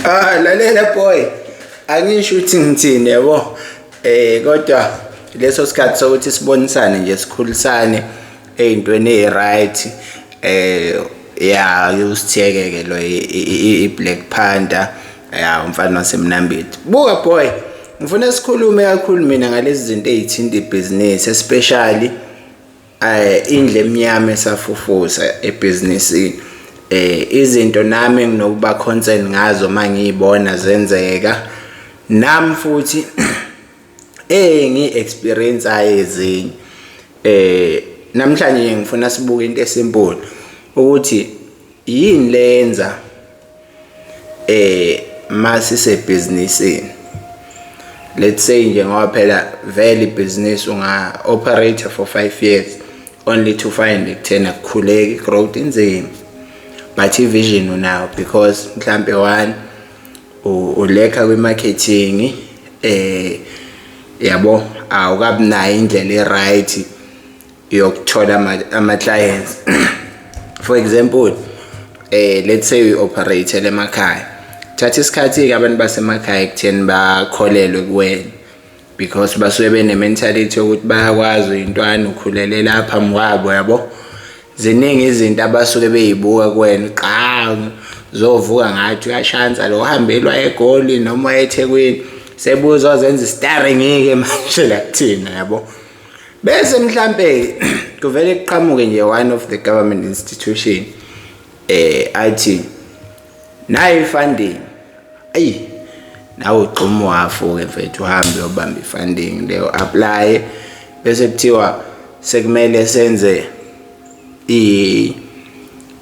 Ah lalela boy. Angisho ukuthi ngithini yabo. Eh kodwa leso sikhathi sokuthi sibonisane nje sikhulisane ezintweni eziright eh ya usithekeke lo i Black Panther ya umfana wasemnambithi. Buka boy. Ngifuna sikhulume kakhulu mina ngalezi zinto ezithinta ibhizinisi especially eh indle emnyama esafufusa ebhizinisini eh izinto nami nginokuba concern ngazo mangiyibona zenzeka nam futhi eh ngi experience ayezinye eh namhlanje ngifuna sibuke into esimple ukuthi yini lenza eh masisebhizinisini let's say nje ngoba phela vele ibhizinisi unga operator for 5 years only to find ekuthena kukhuleki growth inzima but ivision unayo because mhlambe one ulekha kwi marketing eh yabo awukabi nayo indlela e right yokuthola ama clients for example eh let's say we operate emakhaya thatha isikhathi ke abantu basemakhaya ekutheni bakholelwe kuwena because basuke bene mentality yokuthi bayakwazi intwana ukhulele lapha mwabo yabo ziningi izinto abasuke beyibuka kuwena qhamu zovuka ngathi uyashansa lo uhambelwa egoli noma ethekwini sebuzo zenza istarring ke manje la kuthina yabo bese mhlampe kuvele kuqhamuke nje one of the government institution eh athi nayi funding ayi nawe ugxuma uhafo ke mfethu uhambe ubambe funding leyo apply bese kuthiwa sekumele senze i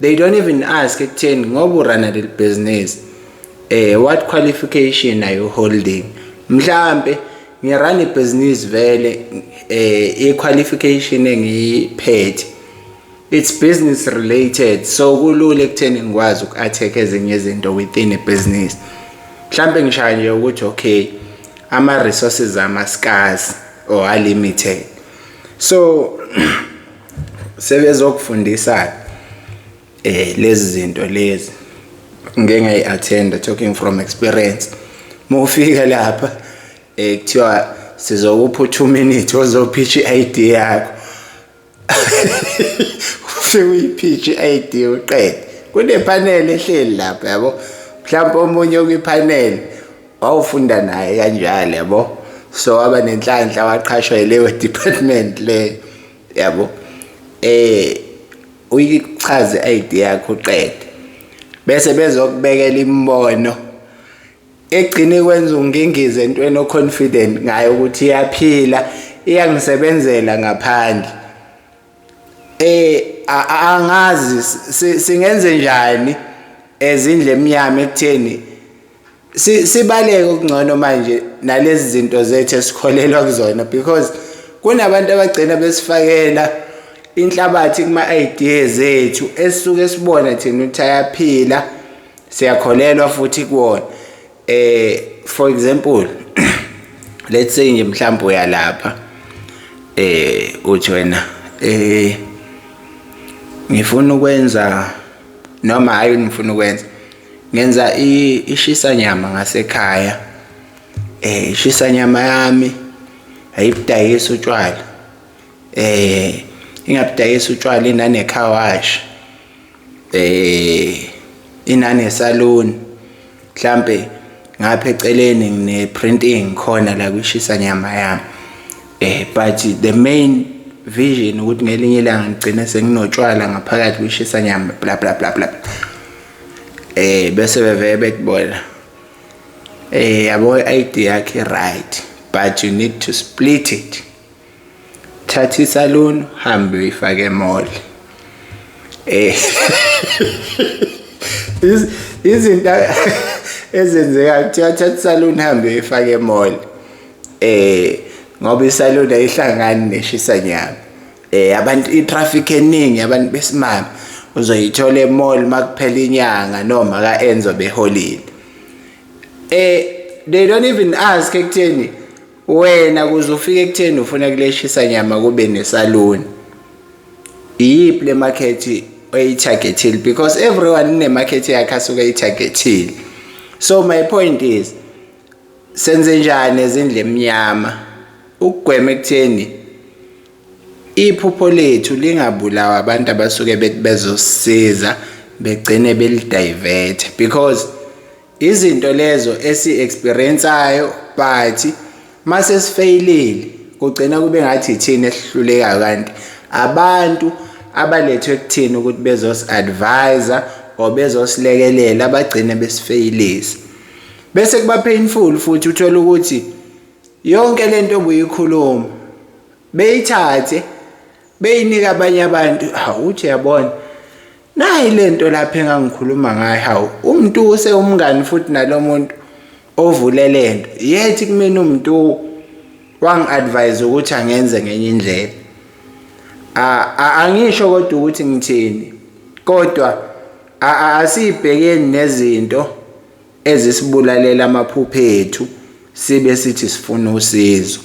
they don't even ask ekutheni ngoba urana leli business eh what qualification are you holding mhlambe ngirana ibhizinisi vele eh i-qualification engiyiphethe it's business related so kulula ekutheni ngikwazi uku-attack ezinye izinto within a business mhlambe ngishaya nje ukuthi okay ama-resources ama-scars or are limited so sebezokufundisa eh lezi zinto lezi ngeke ngayi-attenda talking from experience mufika lapha eh kuthiwa sizokupha u2 minutes ozophicha i-ID yakho ufike uyiphicha i-ID uqede kunepanel ehleli lapha yabo mhlawumbe omunye okwipanel wawufunda naye kanjalo yabo so waba nenhlanhla waqhashwa yileyo department le yabo eh uyichaze i-ID yakho uqede bese bezokubekela imibono egcine kwenza ungingize entweni oconfident ngayo ukuthi iyaphila iyangisebenzela ngaphandle eh angazi singenze njani ezindle emnyama ekutheni sibaleke okungcono manje nalezi zinto zethu esikholelwa kuzona because kunabantu abagcina besifakela inhlabathi kuma-idea zethu esisuke sibona thina ukuthi ayaphila siyakholelwa futhi kuwona eh for example let's say nje mhlawumbe uyalapha eh uthi wena eh ngifuna ukwenza noma hayi ngifuna ukwenza Ngenza ishisa nyama ngasekhaya. Eh ishisa nyama yami ayibudayisa utshwala. Eh ingabudayisa utshwala inane car wash. Eh inane salon. Mhlambe ngapha eceleni ngine printing khona la kwishisa nyama yami. Eh but the main vision ukuthi ngelinye ilanga ngigcine senginotshwala ngaphakathi kwishisa nyama bla bla bla bla. eh bese bevele bethi bona eh yabo i-ID yakhe right but you need to split it thatha isalon hambe uyifake mall eh izinto ezenzeka kuthiwa thatha isalon hambe uyifake mall eh ngoba isalon ayihlangani neshisa nyama eh abantu itraffic eningi abantu besimame uzoyithola emall makuphela inyanga noma ka enzo beholile eh they don't even ask ekutheni wena kuze ufike ekutheni ufuna kuleshisa nyama kube nesaluni iyiphi le market oyitargetile because everyone ine market yakhe asuke itargetile so my point is senze njani ezindle emnyama ukugwema ekutheni Iphupho lethu lingabulawa abantu abasuke bethi bezosiza begcine belidivert because izinto lezo esi-experiensayo but mase sifeyilile kugcina kube ngathi ithina esihlulekayo kanti abantu abalethwe kuthina ukuthi bezos-advisa or bezosilekelela bagcine besifeyilisa bese kuba painful futhi uthole ukuthi Yonke lento obuyikhuluma beyithathe beyinika abanye abantu hawu uthi yabona nayi lento lapha engangikhuluma ngayo hawu umuntu use umngani futhi nalomuntu ovule lento yethi kumina umuntu wangi-advise ukuthi angenze ngenye indlela angisho kodwa ukuthi ngithini kodwa asiyibhekeni nezinto ezisibulalela amaphupho ethu sibe sithi sifuna usizo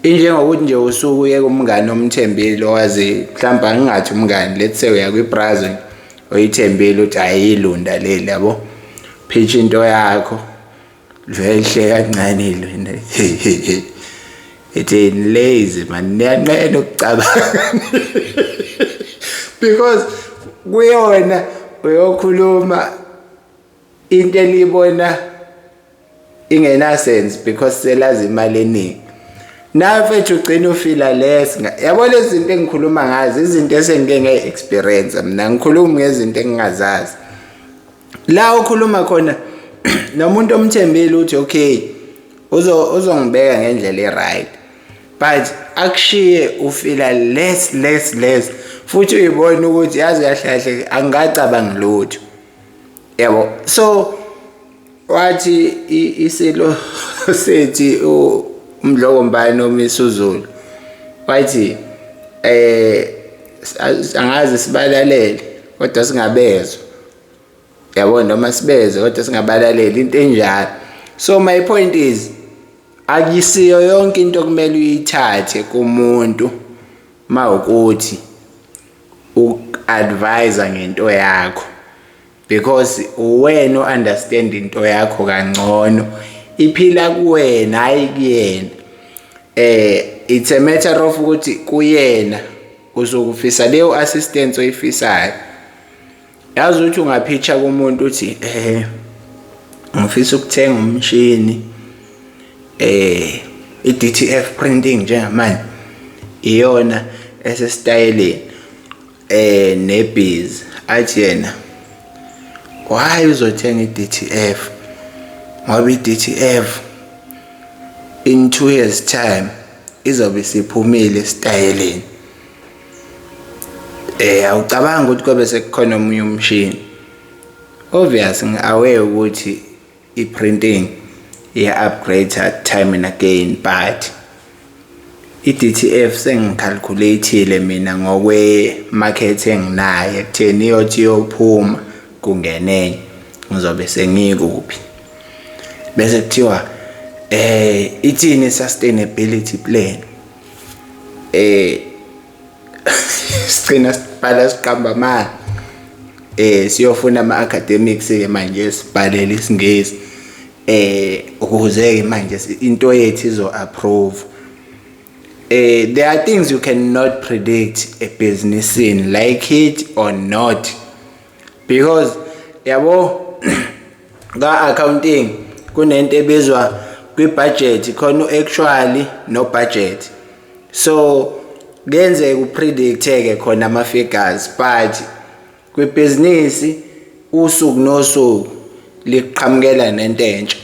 injengokuthi nje usuku uyeke umngane omthembile owazi mhlawumbe angingathi umngane let's say uya kwibrazil oyithembile ukuthi ayiyilunda leli yabo phitsha into yakho lihle kancane ilunda ithi lazy man niyanqena ukucabanga because kuyona uyokhuluma into eniyibona ingenasense because selazi imali eningi nawe mfethu ugcina ufila less yabo lezi zinto engikhuluma ngazo izinto esengike nge-experience mina ngikhuluma ngezinto engingazazi la okhuluma khona nomuntu omthembile uthi okay uzongibeka ngendlela e-right but akushiye ufila less less less futhi uyibona ukuthi yazi kahle kahle angikacabangi lutho yabo so wathi isilo sethi umdloko mbani omisuzulu wathi eh angazi sibalalele kodwa singabezwa yabo noma sibezwe kodwa singabalaleli into enjalo so my point is akisiyo yonke into okumele uyithathe kumuntu mawukuthi uku-advise ngento yakho because uwena o-understand into yakho kangcono iphila kuwena hhayi kuyena eh it's a matter of ukuthi kuyena uzokufisa leyo assistance oyifisayo yazi ukuthi ungaphitsha kumuntu uthi eh ngifisa ukuthenga umshini eh i-DTF printing njengamanje iyona esesitayeleni eh nebhizi athi yena why uzothenga i-DTF ngoba i-DTF in 2 years time izobe siphumile esitayeleni eh awucabanga ukuthi kobe sekukhona omunye umshini obvious ngiaware ukuthi i-printing iya-upgrade time and again but i-DTF sengicalculate-ile mina ngokwe-market enginayo ekutheni iyothi iyophuma kungenenye ngizobe sengikuphi bese kuthiwa eh ithini sustainability plan eh sigcina sibhala siqamba mali eh siyofuna ama academics ke manje sibhalele isingezi eh ukuze ke manje into yethu izo approve eh there are things you cannot predict a business in like it or not because yabo Ka-accounting kunento ebizwa kwi-budget khona u-actually no-budget so kuyenzeka upredict-ke khona ama-figures but kwibhizinisi usuku nosuku liqhamukela nento entsha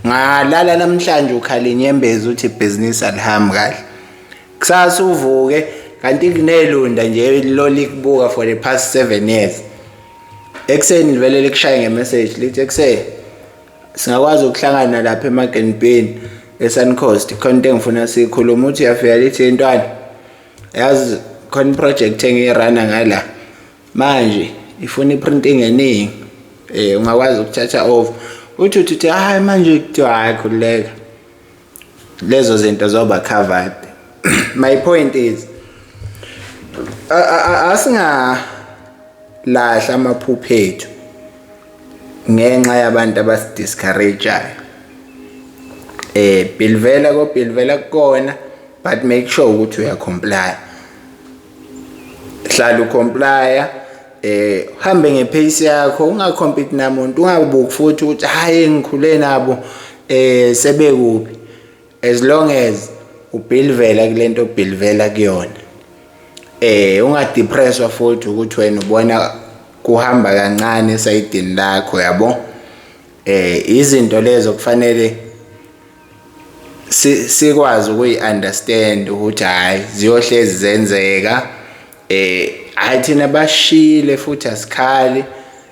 ngalala namhlanje ukhala inyembezi uthi ibhizinisi alihambi kahle kusasa uvuke kanti kunelunda nje lolikubuka for the past seven years Ekuseni livele likushaye ngemessage lithi ekuseni singakwazi ukuhlangana lapha eMarken Bean eSun Coast khona into engifuna sikhuluma uthi uyafika lithi intwana yazi khona iproject engiyirana ngala manje ifuna iprinting eningi eh ungakwazi ukuthatha over uthi uthi hayi manje kuthiwa hayi khululeka lezo zinto zoba covered my point is asinga lahla amaphupho ethu ngenxa yabantu abasidiscourageayo eh bilvela ko bilvela kukona but make sure ukuthi uyacomply hlala ucomplya eh hambe ngepace yakho ungacompete namuntu ungabuki futhi ukuthi hayi ngikhule nabo eh sebekubi as long as ubhilivela kulento obhilivela kuyona eh ungadepresswa futhi ukuthi wena ubona kuhamba kancane esayidini lakho yabo eh izinto lezo kufanele sikwazi ukuyi-understand ukuthi hhayi ziyohlezi zenzeka eh hayi thina bashile futhi asikhali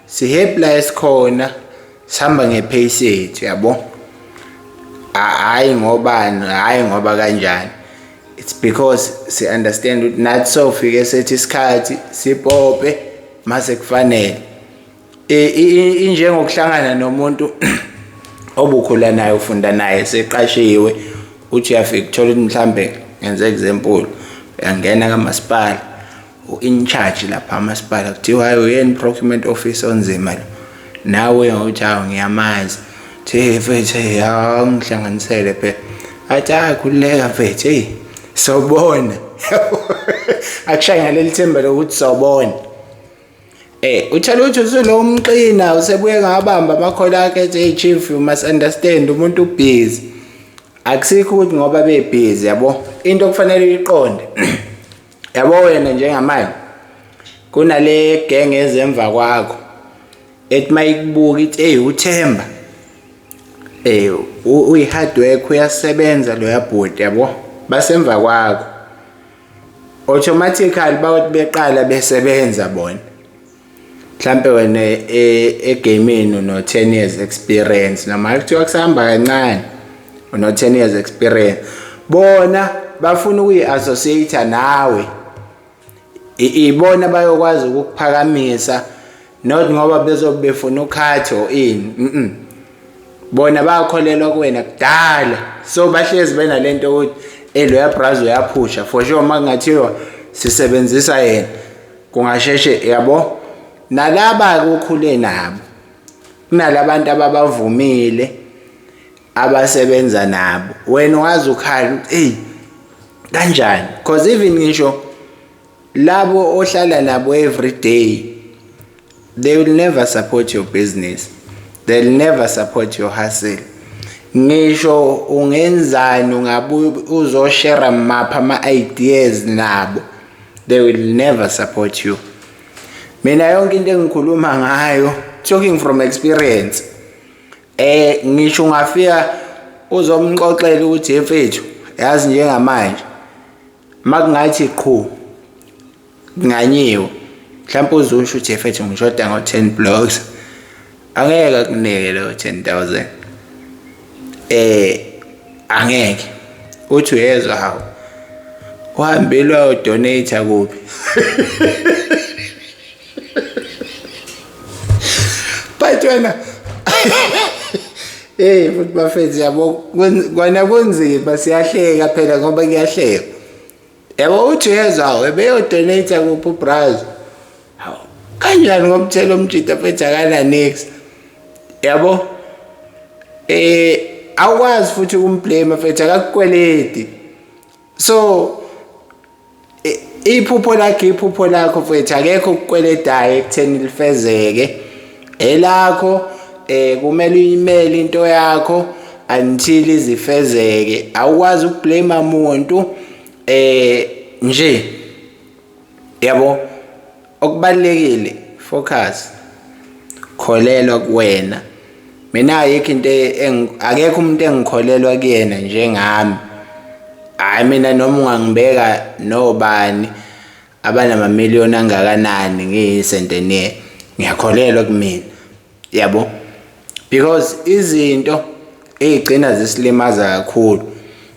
sihappy la esikhona sihamba ngepace yethu yabo hayi ngobani hayi ngoba kanjani it's because si understand ukuthi nathi sofike sethi isikhathi sipope mase kufanele injengokuhlangana nomuntu obukhula naye ufunda naye seqashiwe uthi uyafika ukuthola ukuthi mhlambe ngenze example uyangena kamasipala u-in charge lapha amasipala kuthiwa hayi uyena i-procurement office onzima lo nawe ngokuthi hawu ngiyamazi thi mfethu eyi hawu ngihlanganisele phela athi hayi khululeka mfethu eyi sobona akushaye ngaleli themba lokuthi sobona Eh uthela ukuthi usunomqina usebuye ngabamba amakhola akhe ethi chief you must understand umuntu ubhizi. Akusikho ukuthi ngoba bebhizi yabo into okufanele uyiqonde. Yabo wena njengamanje kunale genge ezemva kwakho ethi mayikubuka ithi hey uThemba eh uyi hard work uyasebenza lo yabhuti yabo basemva kwakho automatically bawuthi beqala besebenza bona mhlambe wena e, egaming uno 10 years experience noma kuthiwa kusahamba kancane uno 10 years experience bona bafuna ukuyi-associate nawe ibona bayokwazi ukukuphakamisa not ngoba bezobe befuna ukhathi or ini mm bona bayakholelwa kuwena kudala so bahlezi benalento ukuthi eloya braz uyaphusha for sure uma kungathiwa sisebenzisa yena kungasheshe yabo nalaba kukhule nabo kunalabantu ababavumile abasebenza nabo wena wazi ukhala ukuthi eyi kanjani because even ngisho labo ohlala nabo every day they will never support your business they'll never support your hustle ngisho ungenzani ungabuye uzoshare mapha ama-ideas nabo they will never support you mina yonke into engikhuluma ngayo talking from experience eh ngisho ungafika uzomxoxela ukuthi mfethu yazi njengamanje Makungathi qhu nganyiwe mhlawumbe uzusho ukuthi efethu ngishoda ngo-10 blocks angeke akunike leyo 10000 eh angeke uthi uyezwa hawu uhambelwa udonate kuphi Bhayithe wena. Hey futhi bafethu yabo kwana kunzima siyahleka phela ngoba kuyahleka. Yabo uthi uyezwa webeyodonate kuphi ubrazo. Hawu kanjani ngomthelo omjita mfethu akana next. Yabo eh awukwazi futhi ukumblame mfethu akakukweledi. so iphupho lakhe iphupho lakho mfethu akekho ukukweletayo ekutheni lifezeke elakho eh kumele uyimele into yakho until izifezeke awukwazi ukublame umuntu eh nje yabo Okubalulekile focus. Kholelwa kuwena. Mina ayikho into e-, akekho umuntu engikholelwa kuyena njengami. Hayi mina noma ungangibeka nobani abanama million angakanani ngiyisentenier. Ngiyakholelwa kumina. yabo because izinto eyigcina zisilimaza kakhulu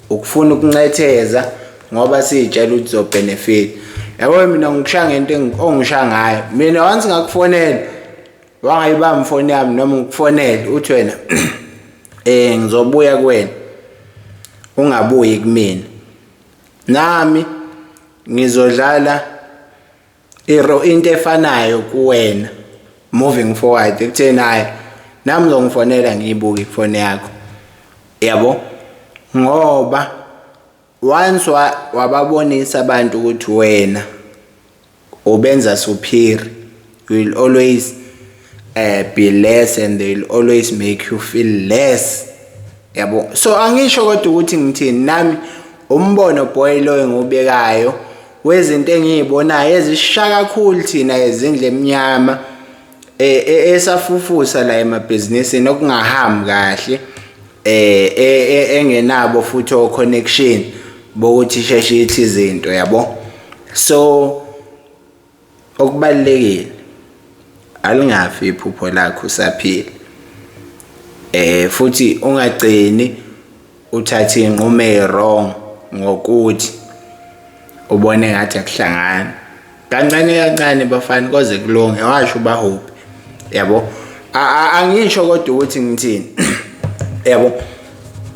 ukufuna ukuncetheza ngoba siyitshela ukuthi zobenefit yabo mina ngikusha ngento ongisha ngayo mina once ngakufonela wangayibamba ifoni yami noma ngikufonele uthi wena eh ngizobuya kuwena ungabuyi kumina nami ngizodlala Iro into efanayo kuwena moving forward ekutheni hayi nami ngizongifonela ngiyibuke ifone yakho yabo ngoba once wababonisa abantu ukuthi wena ubenza superior you will always eh be less and they'll always make you feel less yabo so angisho kodwa ukuthi ngithini nami umbono boy loyo ngubekayo wezinto engiyibonayo ezisha kakhulu thina ezindle emnyama e, e, esafufusa la emabhizinisini okungahambi kahle eh e, engenabo futhi o connection bokuthi sheshe ithi izinto yabo so Okubalulekile alingafi iphupho lakho usaphila. Eh futhi ungagcini uthathe inqumo ewrong ngokuthi ubone ngathi akuhlangani. Kancane kancane bafana koze kulunge washo ubahuphi. Yabo? Angisho kodwa ukuthi ngithini. Yabo?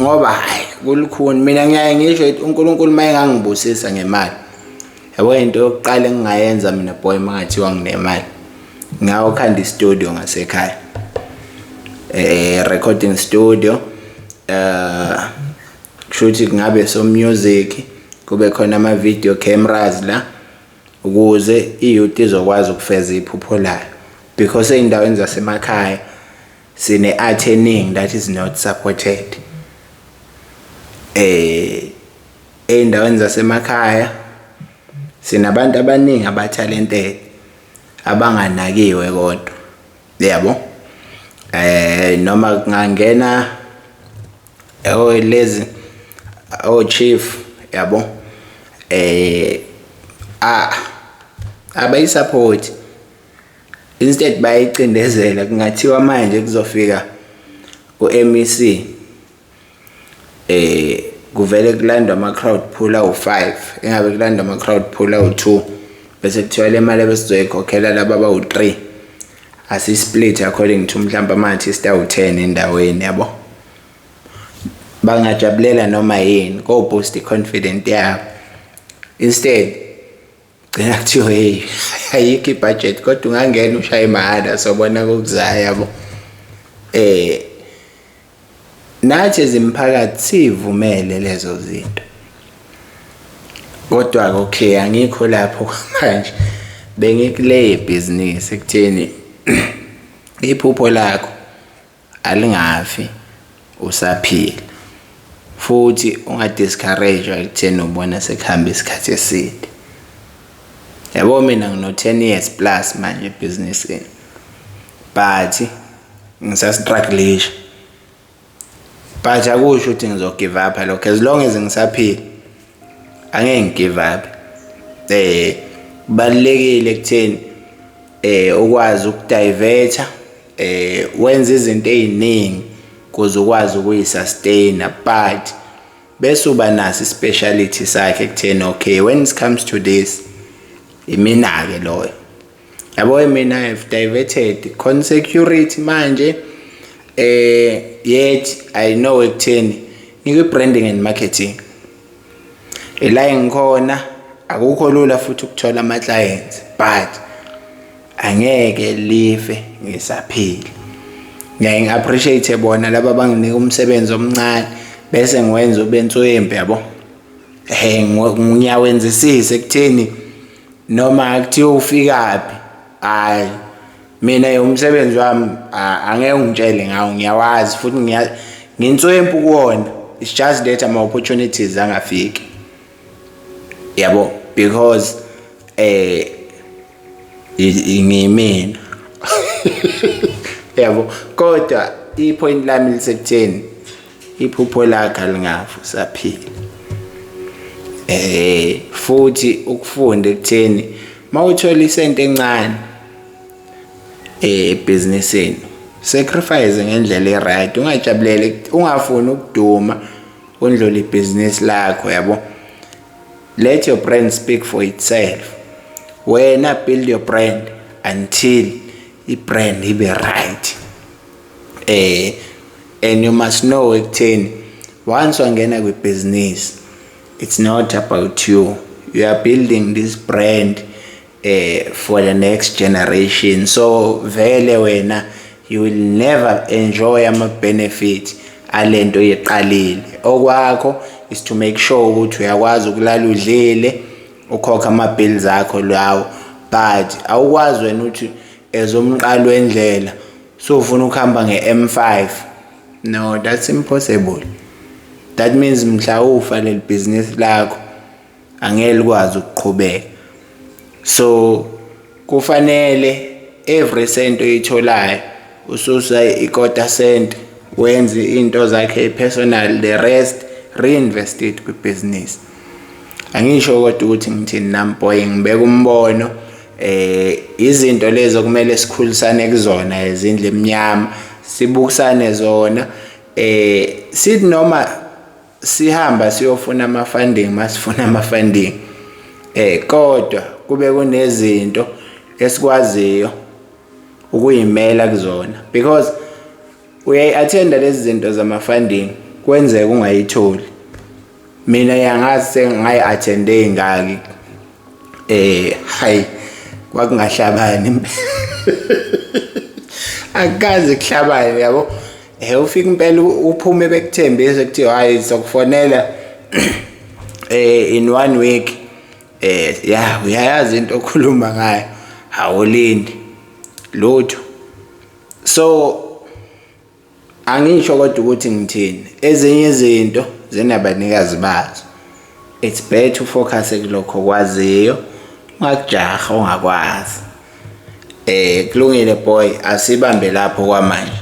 Ngoba hayi kulukhuni mina ngiyaye ngisho ukuthi uNkulunkulu mayengangibusisa ngemali yabo into yokuqala engingayenza mina boy mangathiwa nginemali ngawukhanda istudio ngasekhaya eh recording studio eh kushuthi kungabe so music kube khona ama video cameras la ukuze iyouth izokwazi ukufeza iphupho layo because eindaweni zasemakhaya sine art eningi that is not supported eh Ezindaweni zasemakhaya sinabantu abaningi abathalented abanganakiwe kodwa yabo eh noma kungangena oh lezi oh chief yabo eh ah abayisupport instead bayicindezela kungathiwa manje kuzofika uMEC eh kuvele kulandwa ama crowd pool awu5 engabe kulandwa ama crowd pool awu2 bese kuthiwa le mali ebesizoyikhokhela laba abawu3 asi split according to mhlawumbe ama artist awu10 endaweni yabo bangajabulela noma yini go boost i confidence yabo instead gcina kuthiwa hey ayikho ibudget kodwa ungangena ushaye mahhala sobona kokuzayo yabo eh nathi ezimphakathi sivumele lezo zinto kodwa ke okay angikho lapho manje bengikule business ekutheni iphupho lakho Alingafi usaphila futhi unga discourage ekutheni ubona sekuhamba isikhathi eside. Yabo mina ngino 10 years plus manje ebhizinisini but ngisastrugglish but akusho ukuthi ngizogive up lokho as long as ngisaphila angeke ngigive up eh kubalekile ekutheni eh ukwazi ukudiverter eh wenza izinto eziningi kuze ukwazi ukuyisustain but bese uba naso ispeciality sakhe kutheni okay when it comes to this imina ke loyo yabo mina i have diverted consecurity manje eh yet i know ekutheni ngikwi branding and marketing ila engikhona akukho lula futhi ukuthola ama clients but angeke live ngisaphila ngiyaye ngi-appreciate bona laba abanginika umsebenzi omncane bese ngiwenza ube nswembe yabo um ngiyawenzisisa ekutheni noma kuthiwa ufikaphi hhayi mina umsebenzi wami angeke ungitshele ngawo ngiyawazi futhi nginswempu kuwona it's just that ama-opportunities angafiki yabo because eh ngimina yabo kodwa ipoint lami lisekutheni iphupho lakhe lingafu saphila eh futhi ukufunda ekutheni mawuthola isente encane eh, ebhizinisini sacrifice ngendlela e-right ungajabuleli ungafuni ukuduma undlule ibhizinisi lakho yabo let your brand speak for itself wena build your brand until i-brand ibe right eh and you must know ekutheni once wangena kwibhizinisi it's not about you you are building this brand eh for the next generation so vele wena you will never enjoy ama benefit alento yeqalile okwakho is to make sure ukuthi uyakwazi ukulala udlile ukhokha ama bills akho lawo but awukwazi wena ukuthi ezomqalo wendlela so ufuna ukuhamba nge-M5 no that's impossible that means mhla ufa leli business lakho angeke likwazi ukuqhubeka so kufanele every cent oyitholayo ususa ikota cent wenze into zakhe personal the rest reinvest it kwibusiness angisho kodwa ukuthi ngithini nami boy ngibeka umbono eh izinto lezo kumele sikhulisane kuzona ezindle emnyama sibukisane zona eh sithi noma sihamba siyofuna ama funding masifuna ama funding eh kodwa kube kunezinto esikwaziyo ukuyimela kuzona because uyayi attenda lezi zinto zama funding kwenzeka ungayitholi mina yangazi sengayi attende ingaki eh hayi kwakungahlabani akaze kuhlabani yabo eh ufika impela uphume bekuthembise ukuthi hayi sokufonela eh in one week eh ya uyayazi into okhuluma ngayo awulindi lutho so Angisho kodwa ukuthi ngithini. Ezinye izinto zinabanikazi bazo. It's better ufocus kulokho okwaziyo ungakujaha ongakwazi. Eh kulungile boy asibambe lapho kwamanje.